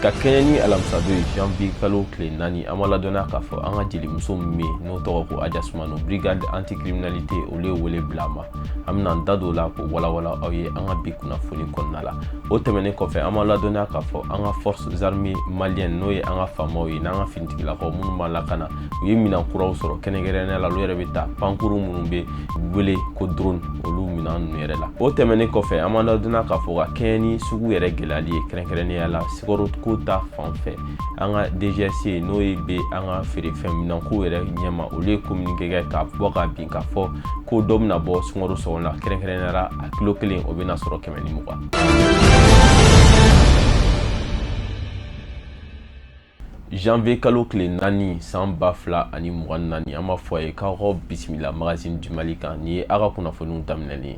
ka kɛɲɛ ni alamisadon ye janvier kalo tile naani an b'a ladɔnniya k'a fɔ an ka jelimuso min bɛ yen n'o tɔgɔ ko aja sumano brigade anticriminalité olu ye wele bila a ma an bɛna an da don o la k'o walawala aw ye an ka bi kunnafoni kɔnɔna la o tɛmɛnen kɔfɛ an b'a ladɔnniya k'a fɔ an ka forces armées maliennes n'o ye an ka faamaw ye n'an ka finitigilakaw minnu b'a lakana u ye minɛn kuraw sɔrɔ kɛrɛnkɛrɛnnenya la olu yɛrɛ bɛ ta pankuru minnu bɛ wele ko drone olu minɛn ninnu yɛrɛ la o tɛmɛnen kɔfɛ an b'a ladɔnniya k'a fɔ ka kɛɲɛ ni sugu yɛrɛ gɛlɛyali ye kɛrɛnkɛrɛnnenya la sukaroko ta fan fɛ an ka dgcc n'o ye bɛ an ka feerefɛn minɛnko yɛrɛ ɲɛma olu ye communiqué kɛ k'a bɔ ka bin k'a fɔ ko dɔ bɛna bɔ sukaro sɔngɔ la kɛrɛnkɛrɛnnenya la a kilo kelen o bɛna sɔrɔ kɛmɛ janvier kalo tile naani san ba fila ani mugan ni naani an b'a fɔ a ye k'aw ka bisimila magazine du mali kan nin ye aw ka kunnafoniw daminɛlen ye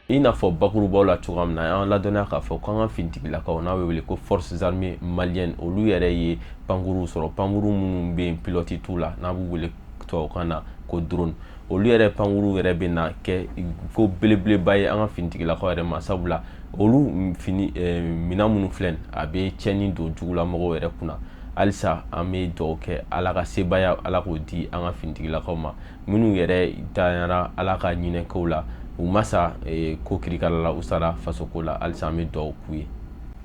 i n'a fɔ bakurubaw la cogoya min na y'an ladɔnniya k'a fɔ k'an ka finitigilakaw n'a bɛ wele ko forces armées maliennes olu yɛrɛ ye pankuruw sɔrɔ pankuru minnu bɛ yen pilɔti t'u la n'an b'u wele tubabukan na ko drone olu yɛrɛ pankuruw yɛrɛ bɛna kɛ ko belebeleba ye an ka finitigilakaw yɛrɛ ma sabula olu fini eh, minɛn minnu filɛ a bɛ tiɲɛni don jugulamɔgɔw yɛrɛ kunna halisa an bɛ dugawu kɛ ala ka sebaaya ala k'o di an ka finitigilakaw ma minnu yɛrɛ dayara ala ka hinɛ k'u la u ma sa ko kirikala la u sara fasoko la halisa an bɛ dugawu k'u ye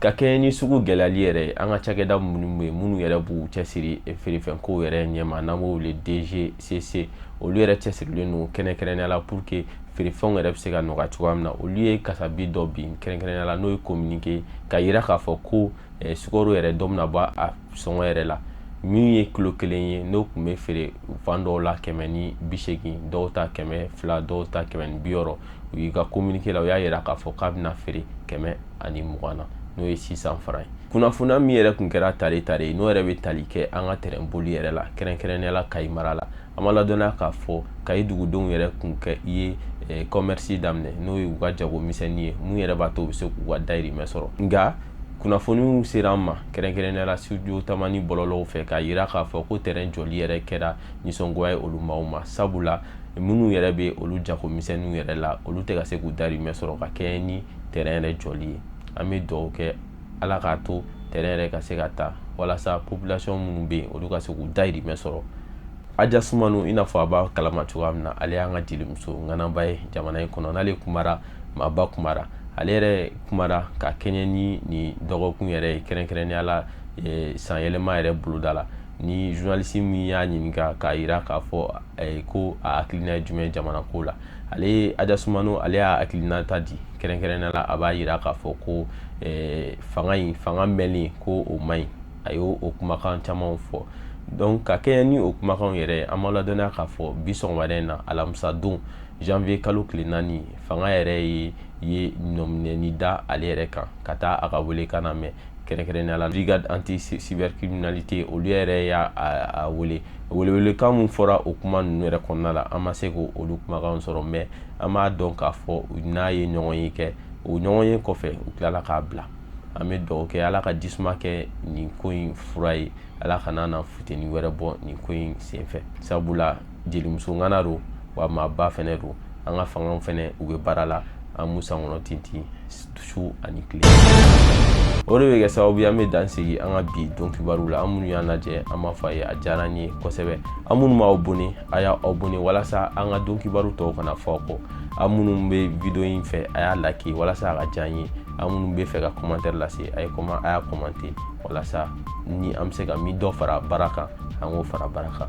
ka kɛɲɛ ni sugu gɛlɛyali yɛrɛ an ka cakɛda minnu ye minnu yɛrɛ b'u cɛsiri feerefɛnko yɛrɛ ɲɛma n'an b'o wele dgcc olu yɛrɛ cɛsirilen don kɛrɛnkɛrɛnnenya la pour que feerefɛnw yɛrɛ bɛ se ka nɔgɔya cogoya min na olu ye kasabi dɔ bin kɛrɛnkɛrɛnnenya la n'o ye kominike k'a yira k'a fɔ ko Eh, sukaro yɛrɛ dɔ bɛna bɔ a sɔngɔ yɛrɛ la min ye kilo kelen ye n'o kun bɛ feere fan dɔw la kɛmɛ ni bi seegin dɔw ta kɛmɛ fila dɔw ta kɛmɛ ni bi wɔɔrɔ u y'i ka kominike la u y'a yira k'a fɔ k'a bɛna feere kɛmɛ ani mugan na n'o ye six cents francs ye kunnafoniya min yɛrɛ kun kɛra tare tare ye n'o yɛrɛ bɛ tali kɛ an ka tɛrɛnboli yɛrɛ la kɛrɛnkɛrɛnnenya la kayi mara la an b'a ladɔnniya k'a fɔ kayi dugudenw yɛrɛ kun kɛ i ye eh, commerce daminɛ n'o ye u ka jago misɛnnin ye mun yɛrɛ b'a to u bɛ se k'u ka dayirimɛ sɔrɔ nka kunnafoniw sera an ma kɛrɛnkɛrɛnnenya la studio tamani bɔlɔlɔw fɛ k'a yira k'a fɔ ko tɛrɛn jɔli yɛrɛ kɛra nisɔngoya ye olu maaw ma sabula minnu yɛrɛ bɛ olu jago misɛnninw yɛrɛ la olu tɛ ka se k'u dayirimɛ sɔrɔ ka kɛɲɛ ni tɛrɛn yɛrɛ jɔli ye an bɛ dugawu kɛ ala k'a to tɛrɛn yɛrɛ ka se ka taa walasa population minnu bɛ yen olu ka se k'u dayirimɛ sɔrɔ aja sumanu i n'a fɔ a b'a kalama cogoya min na ale y'an ka jelimuso ŋanaba ye jamana in kɔnɔ n'ale kumara maaba kumara ale yɛrɛ kumara ka kɛɲɛ ni nin dɔgɔkun yɛrɛ ye kɛrɛnkɛrɛnnenya la eh, san yɛlɛma yɛrɛ boloda la ni journaliste min y'a ɲininka k'a yira k'a fɔ eh, ko a hakilina ye jumɛn jamana ko la ale ye aja sumanu ale y'a hakilinata di kɛrɛnkɛrɛnnenya la a b'a yira k'a fɔ ko eh, fanga in fanga mɛnlen ko o man ɲi a y'o o kumakan camanw fɔ donc ka kɛɲɛ ni o kumakanw yɛrɛ an b'a ladɔnniya k'a fɔ bi sɔgɔmada in na alamisa don janvier kalo tile naani fanga yɛrɛ ye ye nɔminɛni da ale yɛrɛ kan ka taa a ka welekan namɛn kɛrɛnkɛrɛnnenya la brigade anti cybercriminalité olu yɛrɛ y'a a wele welewelekan min fɔra o kuma ninnu yɛrɛ kɔnɔna la an ma se k'o olu kumakanw sɔrɔ mais an b'a dɔn k'a fɔ n'a ye ɲɔgɔnye kɛ o ɲɔgɔnye kɔfɛ u tilala k'a bila an bɛ dugawu kɛ ala ka jisuma kɛ nin ko in fura ye ala kana na futeni wɛrɛ bɔ nin ko in senfɛ sabula jelimuso ŋana don wa maaba fɛnɛ don an ka fanga fɛnɛ u bɛ baara la an b'u sankɔrɔ tintin su ani tile o de bɛ kɛ sababu ye an bɛ dan sigi an ka bi don kibaru la aw minnu y'an lajɛ an b'a fɔ a ye a diyara an ye kosɛbɛ aw minnu m'a abonné a y'a abonné walasa an ka don kibaru tɔw kana fɔ aw kɔ aw minnu bɛ video in fɛ a y'a like walasa a ka diya an ye aw minnu b'a fɛ ka commentaire lase a ye kɔma a y'a commenter walasa ni an bɛ se ka min dɔ fara baara kan an k'o fara baara kan